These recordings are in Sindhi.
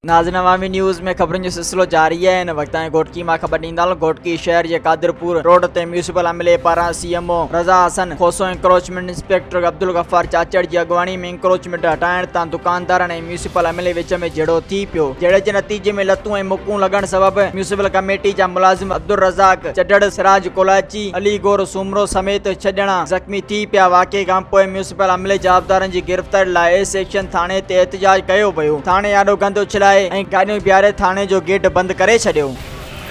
ناظرين عوامي نيوز ۾ خبرن جو سلسلو جاري آهي ان وقت تائين گهوٽڪي مان خبر ڏيندڙ گهوٽڪي شهر جي قادرپور روڊ تي ميونسپل عملي پاران C M O Raza Hasan Khoso encroachment inspector Abdul Ghaffar Chachar جي اڳواڻي ۾ انڪروچمينٽ هٽائڻ تان دڪاندارن ۽ ميونسپل عملي وچ ۾ جهيڙو ٿي پيو، جهيڙي جي نتيجي ۾ لتون ۽ مڪون لڳڻ سبب ميونسپل ڪميٽي جا ملازم عبدالرزاق چڍڙ، سراج ڪولاچي، علي گور سومرو سميت ڇهه ڄڻا زخمي ٿي پيا، واقعي کانپوء ميونسپل عملي جوابدارن جي گرفتاري لاء اي سيڪشن ٿاڻي تي احتجاج ڪيو ويو، ٿاڻي آڏو گند اڇلائي ۽ گاڏيون بيهاري ٿاڻي جو گيٽ بند ڪري ڇڏيو.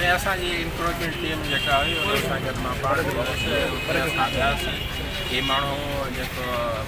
۽ اسان جي انڪروچمينٽ ٽيم جيڪا هئي انهن سان گڏ مان پاڻ به هيس ۽ اتي اسان وياسين، هي ماڻهو جيڪو.